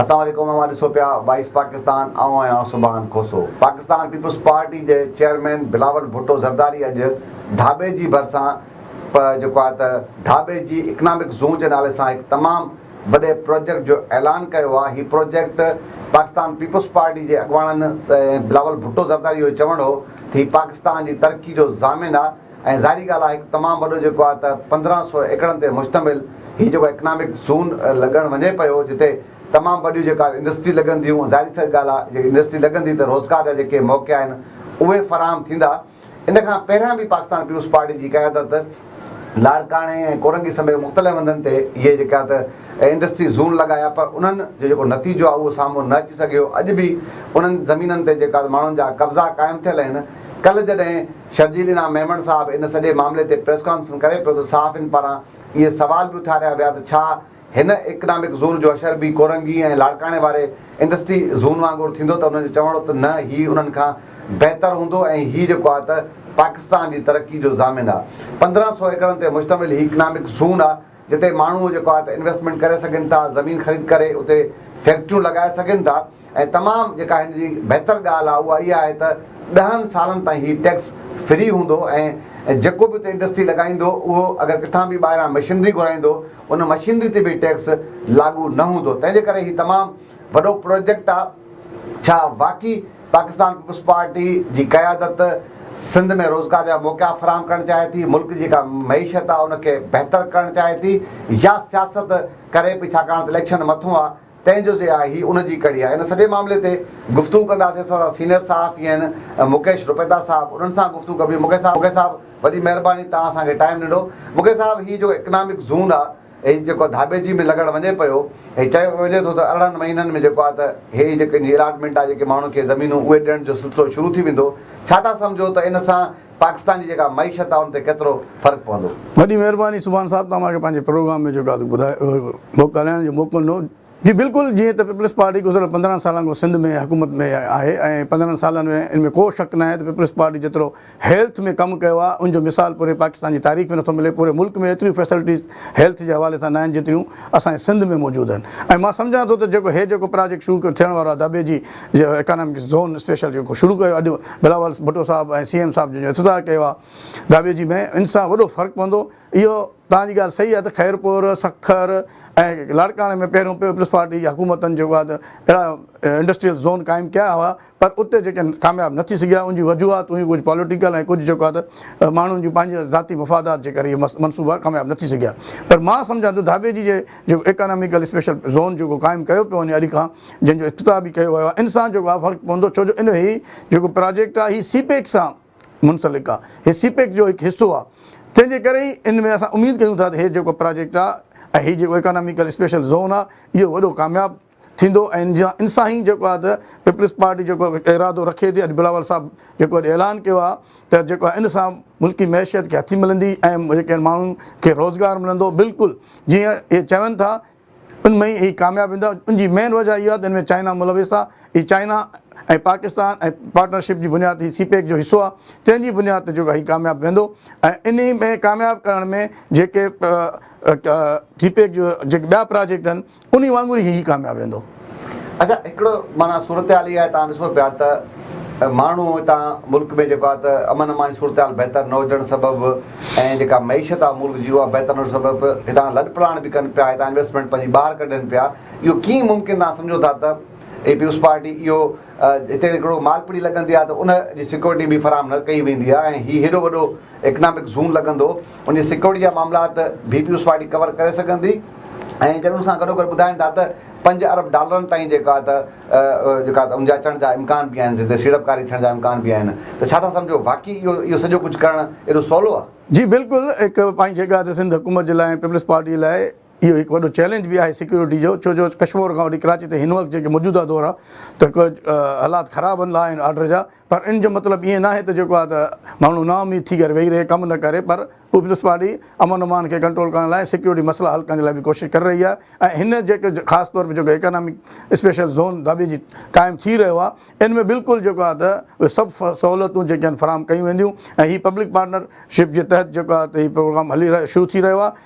اسلام عليڪم اوهان ڏسو پيا وائس پاڪستان آئون آهيان سبحان کوسو پاڪستان پيپلز پارٽي جي چيئرمين بلاول ڀٽو زرداري اڄ ڍاٻي جي ڀرسان پ جيڪو آهي ته ڍاٻي جي اڪنامڪ زون جي نالي سان هڪ تمام وڏي پراجيڪٽ جو اعلان ڪيو آهي، هي پراجيڪٽ پاڪستان پيپلز پارٽي جي اڳواڻن سائين بلاول ڀٽو زرداري جو چوڻ هو ته هي پاڪستان جي ترقي جو ضامن آهي ۽ ظاهري ڳالهه آهي هڪ تمام وڏو جيڪو آهي ته پندرهن سؤ ايڪڙن تي مشتمل هي جيڪو اڪنامڪ زون لڳڻ وڃي پيو جتي تمام وڏيون جيڪو آهي انڊسٽري لڳنديون ظاهري ڳالهه آهي جيڪي انڊسٽري لڳندي ته روزگار جا جيڪي موقعا آهن اهي فراهم ٿيندا. ان کان پهريان به پاڪستان پيپلز پارٽي جي قيادت لاڙڪاڻي ۽ ڪورنگي سميت مختلف هنڌن تي اهي جيڪا ته انڊسٽري زون لڳايا پر انهن جو جيڪو نتيجو آهي اهو سامهون نه اچي سگهيو اڄ به انهن زمينن تي جيڪا ماڻهن جا قبضا قائم ٿيل آهن ڪلهه جڏهن شرجيل انعام ميمڻ صاحب ان سڄي معاملي تي پريس ڪانفرنس ڪري پيو ته صحافين پاران اهي سوال به اٿاريا ويا ته ڇا هن اڪنامڪ زون جو اشر به ڪورنگي ۽ لاڙڪاڻي واري انڊسٽري زون وانگر ٿيندو ته انهن جو چوڻ هو ته نه هي انهن کان بهتر هوندو ۽ هي جيڪو آ ته پاڪستان جي ترقي جو ضامن آ. پندرهن سؤ ايڪڙن تي مشتمل هي اڪنامڪ زون آ جتي ماڻهو جيڪو آ ته انويسٽمينٽ ڪري سگهن ٿا، زمين خريد ڪري اتي فيڪٽريون لڳائي سگهن ٿا، ۽ تمام جيڪا هن جي بهتر ڳالهه آهي اها اها آهي ته ڏهن سالن تائين هي ٽيڪس فري هوندو ۽ جيڪو به اتي انڊسٽري لڳائيندو اهو اگر ڪٿان به ٻاهران مشينري گهرائيندو ان مشينري تي به ٽيڪس لاڳو نه هوندو تنهن جي ڪري هي تمام وڏو پروجيڪٽ آهي ڇا واقعي پاڪستان پيپلز پارٽي جي قيادت سنڌ ۾ روزگار جا موقعا فراهم ڪرڻ چاهي ٿي ملڪ جي جيڪا معيشت آهي ان کي بهتر ڪرڻ چاهي ٿي يا سياست ڪري پئي ڇاڪاڻ ته اليڪشن مٿون آهي تنهن جو سي آء هي ان جي ڪڙي آهي. ان سڄي معاملي تي گفتگو ڪنداسين اسان سان سينئر صحافي آهن مڪيش روپيتا صاحب انهن سان گفتگو ڪبي مڪيش صاحب مڪيش صاحب وڏي مهرباني توهان اسان کي ٽائيم ڏنو مڪيش صاحب هي جيڪو اڪنامڪ زون آ هي جيڪو ڌاٻيجي ۾ لڳڻ وڃي پيو هي چيو وڃي ٿو ته ارڙهن مهينن ۾ جيڪو آ ته هي جيڪي الاٽمينٽ آ جيڪي ماڻهن کي زمينون اهي ڏيڻ جو سلسلو شروع ٿي ويندو ڇا ٿا سمجهو ته ان سان پاڪستان جي جيڪا معيشت آ ان تي ڪيترو فرق پوندو. وڏي مهرباني سبحان صاحب توهان مونکي پنهنجي پروگرام ۾ جيڪا ٻڌايو ڳالهائڻ جو موقعو ڏنو جي بلڪل جيئن ته پيپلز پارٽي گذريل پندرهن سالن کان سنڌ ۾ حڪومت ۾ آهي ۽ پندرهن سالن ۾ ان ۾ ڪو شڪ ناهي ته پيپلز پارٽي جيترو هيلٿ ۾ ڪم ڪيو آهي ان جو مثال پوري پاڪستان جي تاريخ ۾ نٿو ملي پوري ملڪ ۾ ايتريون فيسلٽيز هيلٿ جي حوالي سان ناهن جيتريون اسان جي سنڌ ۾ موجود آهن ۽ مان سمجهان ٿو ته جيڪو هي جيڪو پراجيڪٽ شروع ٿيڻ وارو آهي دٻي جي جو اڪانامڪس زون اسپيشل جيڪو شروع ڪيو اڄ بلاول ڀٽو صاحب ۽ سي ايم صاحب جن جو افتتاح ڪيو آهي داٻي جي ۾ ان سان وڏو فرق پوندو اهو توهان جي ڳالهه صحيح آهي ته خيرپور سکر ۽ لاڙڪاڻي ۾ پهريون پيپلز پارٽي جي حڪومتن جيڪو آهي ته اهڙا انڊسٽريل زون قائم ڪيا هئا پر اتي جيڪي ڪامياب نه ٿي سگهيا ان جون وجوهات هيون ڪجهه پاليٽيڪل ۽ ڪجهه جيڪو آهي ته ماڻهن جون پنهنجي ذاتي مفادات جي ڪري اهي منصوبا ڪامياب نه ٿي سگهيا پر مان سمجهان ٿو ڌاٻيجي جي جيڪو ايڪاناميڪل اسپيشل زون جيڪو قائم ڪيو پيو وڃي اڄ کان جنهن جو افتتاح به ڪيو ويو آهي ان سان جيڪو آهي فرق پوندو ڇو جو ان هي جيڪو پراجيڪٽ آهي هي سي پيڪ سان منسلڪ آهي هي سي پيڪ جو هڪ حصو آهي تنهن جي ڪري ئي ان ۾ اسان اميد ڪيون ٿا ته هي جيڪو پراجيڪٽ آهي ۽ هي جيڪو ايڪاناميڪل اسپيشل زون آهي اهو وڏو ڪامياب ٿيندو ۽ ان سان ئي جيڪو آهي ته پيپلز پارٽي جيڪو ارادو رکي ٿي اڄ بلاول صاحب جيڪو اڄ اعلان ڪيو آهي ته جيڪو آهي ان سان ملڪي معيشت کي هٿي ملندي ۽ جيڪي آهن ماڻهن کي روزگار ملندو بلڪل جيئن اهي چون ٿا ان ۾ ئي اهي ڪامياب ويندا ان جي مين وجهه اها آهي ته ان ۾ چائنا ملوث آهي هي چائنا ۽ پاڪستان ۽ پارٽنرشپ جي بنياد هي سي پيڪ جو حصو آهي تنهن جي بنياد تي جيڪو هي ڪامياب ويندو ۽ انهي ۾ ڪامياب ڪرڻ ۾ جيڪي سي پيڪ جو جيڪي ٻيا پراجيڪٽ آهن انهي وانگر ئي هي ڪامياب ويندو. اچا هڪڙو معنيٰ صورتحال اها آهي تان ڏسو پيا ته ماڻهو هتان ملڪ ۾ جيڪو آهي ته امن امان جي صورتحال بهتر نه هجڻ سبب ۽ جيڪا معيشت آهي ملڪ جي اها بهتر نه هجڻ سبب هتان لڏپلاڻ به ڪن پيا هتان انويسٽمينٽ پنهنجي ٻاهر ڪڍين پيا اهو ڪيئن ممڪن تان سمجهو ٿا ته اي پيوس پارٽي اهو هتي هڪڙو مالپڙي لڳندي آهي ته ان جي سيڪيورٽي به فراهم نه ڪئي ويندي آهي ۽ هي هيڏو وڏو اڪنامڪ زون لڳندو ان جي سيڪيورٽي جا معاملات بي پيوز پارٽي ڪور ڪري سگهندي ۽ جڏهن ان سان گڏوگڏ ٻڌائين ٿا ته پنج ارب ڊالرن تائين جيڪا ته جيڪا ته ان جا اچڻ جا امڪان به آهن جتي سيڙپڪاري ٿيڻ جا امڪان به آهن ته ڇا ٿا سمجهو واقعي اهو اهو سڄو ڪجهه ڪرڻ ايڏو سولو آهي؟ جي بلڪل هڪ پائين جيڪا ته سنڌ حڪومت جي لاء ۽ پيپلز پارٽي لاء اهو هڪ وڏو چئلينج به آهي سيڪيورٽي جو ڇو جو ڪشمور کان وٺي ڪراچي تائين هن وقت جيڪي موجوده دور آهي ته ڪجهه حالات خراب هن لاء آهن آرڊر جا پر ان جو مطلب ائين ناهي ته جيڪو آهي ته ماڻهو نااميد ٿي ڪري ويهي رهي ڪم نه ڪري پر پيپلز پارٽي امن امان کي ڪنٽرول ڪرڻ لاء سيڪيورٽي مسئلا حل ڪرڻ جي لاء به ڪوشش ڪري رهي آهي ۽ هن جيڪو خاص طور جيڪو ايڪانامڪ اسپيشل زون داٻيجي قائم ٿي رهيو آهي ان ۾ بلڪل جيڪو آهي ته اهي سڀ سهولتون جيڪي آهن فراهم ڪيون وينديون ۽ هي پبلڪ پارٽنر شپ جي تحت جيڪو آهي ته هي پروگرام هلي رهيو شروع ٿي رهيو آهي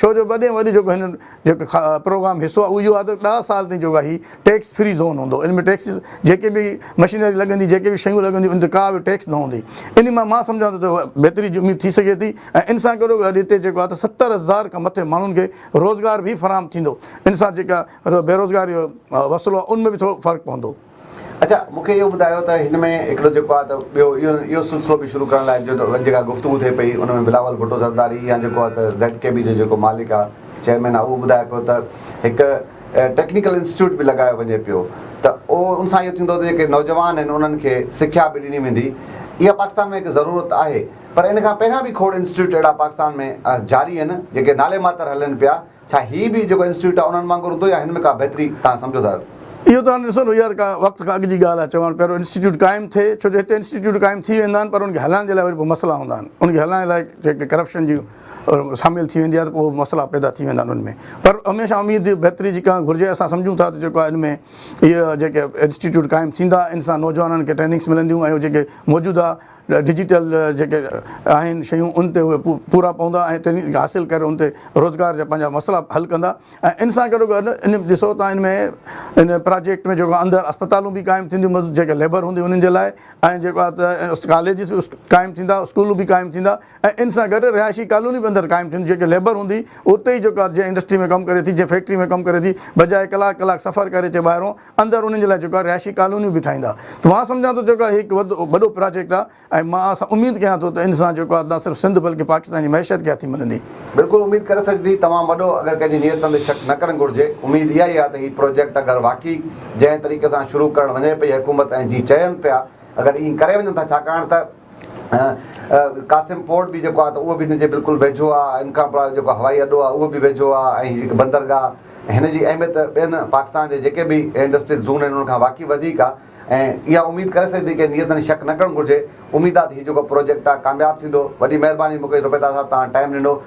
ڇو جو وڏي ۾ وڏي جيڪو هن جيڪو پروگرام حصو آهي اهو اهو آهي ته ڏهه سال تائين جيڪو هي ٽيڪس فري زون هوندو ان ۾ ٽيڪس جيڪي به مشينري لڳندي جيڪي به شيون لڳنديون ان تي ڪا به ٽيڪس نه هوندي ان مان مان سمجهان ٿو ته بهتري جي اميد ٿي سگهي ٿي ۽ ان سان گڏو گڏ هتي جيڪو آهي ته ستر هزار کان مٿي ماڻهن کي روزگار به فراهم ٿيندو ان سان جيڪا بيروزگاري جو مسئلو آهي ان ۾ به ٿورو فرق پوندو. اڇا مون کي اهو ٻڌايو ته هن ۾ هڪڙو جيڪو آهي ته ٻيو اهو سلسلو به شروع ڪرڻ لاء جيڪا گفتگو ٿئي پئي ان ۾ بلاول ڀٽو زرداري يا جيڪو آهي ته زيڊ ڪي بي جو جيڪو مالڪ آهي چيئرمين آهي اهو ٻڌائي پيو ته هڪ ٽيڪنيڪل انسٽيٽيوٽ به لڳايو وڃي پيو ته ان سان اهو ٿيندو ته جيڪي نوجوان آهن انهن کي سکيا به ڏني ويندي اها پاڪستان ۾ هڪ ضرورت آهي پر ان کان پهريان به کوڙ انسٽيٽيوٽ اهڙا پاڪستان ۾ جاري آهن جيڪي نالي ماتر هلن پيا ڇا هي به جيڪو انسٽيٽيوٽ آهي انهن وانگر هوندو يا هن ۾ ڪا بهتري توهان سمجهو ٿا؟ اهو ته هاڻي ڏسو نه يار ڪا وقت کان اڳ جي ڳالهه آهي چوان پيارو انسٽيٽيوٽ قائم ٿئي ڇو جو هتي انسٽيٽيوٽ قائم ٿي ويندا آهن پر ان کي هلائڻ جي لاء وري پوء مسئلا هوندا آهن ان کي هلائڻ لاء جيڪي ڪرپشن جي ساميل ٿي ويندي آهي ته پوء مسئلا پيدا ٿي ويندا آهن ان ۾ پر هميشه اميد بهتري جي ڪرڻ گهرجي اسان سمجهون ٿا ته جيڪو آهي ان ۾ اهي جيڪي انسٽيٽيوٽ قائم ٿيندا ان سان نوجوانن کي ٽريننگس ملنديون ۽ جيڪي موجوده ڊجيٽل جيڪي آهن شيون ان تي اهي پورا پوندا ۽ ٽريننگ حاصل ڪري ان تي روزگار جا پنهنجا مسئلا حل ڪندا ۽ ان سان گڏو گڏ ان ڏسو ته ان ۾ ان پراجيڪٽ ۾ جيڪو اندر اسپتالون به قائم ٿينديون جيڪي ليبر هوندي انهن جي لاء ۽ جيڪو آهي ته ڪاليجز به قائم ٿيندا اسڪول به قائم ٿيندا ۽ ان سان گڏ رهائشي ڪالوني به اندر قائم ٿينديون جيڪي ليبر هوندي اتي ئي جيڪو آهي جنهن انڊسٽري ۾ ڪم ڪري ٿي جنهن فيڪٽري ۾ ڪم ڪري ٿي بجاء ڪلاڪ ڪلاڪ سفر ڪري اچي ٻاهرون اندر انهن جي لاء جيڪو آهي رهائشي ڪالونيون به ٺاهيندا ته مان سمجهان ٿو جيڪو آهي هي هڪ وڏو پراجيڪٽ آهي ۽ مان اسان اميد ڪيان ٿو ته ان سان جيڪو آهي نه صرف سنڌ بلڪه پاڪستان جي معيشت کي هٿي ملندي. بلڪل اميد ڪري سگهجي توهان وڏو اگر ڪنهن جي نيتن تي شڪ نه ڪرڻ گهرجي اميد اها ئي آهي ته هي پروجيڪٽ اگر واقعي جنهن طريقي سان شروع ڪرڻ وڃي پئي حڪومت ۽ جي چين پيا اگر ائين ڪري وڃن ٿا ڇاڪاڻ ته قاسم پورٽ به جيڪو آهي ته اهو به هن جي بلڪل ويجهو آهي. ان کان پراء جيڪو هوائي اڏو آهي اهو به ويجهو آهي ۽ هي جيڪي بندرگاهه هن جي اهميت ٻين پاڪستان جي جيڪي به انڊسٽريل زون آهن ان کان واقعي وڌيڪ آهي ۽ اها اميد ڪري سگهجي ٿي ڪنهن نيت ۾ شڪ نه ڪرڻ گهرجي اميد آهي ته هي جيڪو پروجيڪٽ آهي ڪامياب ٿيندو وڏي مهرباني مڪيش روپيتا صاحب توهان ٽائيم ڏنو.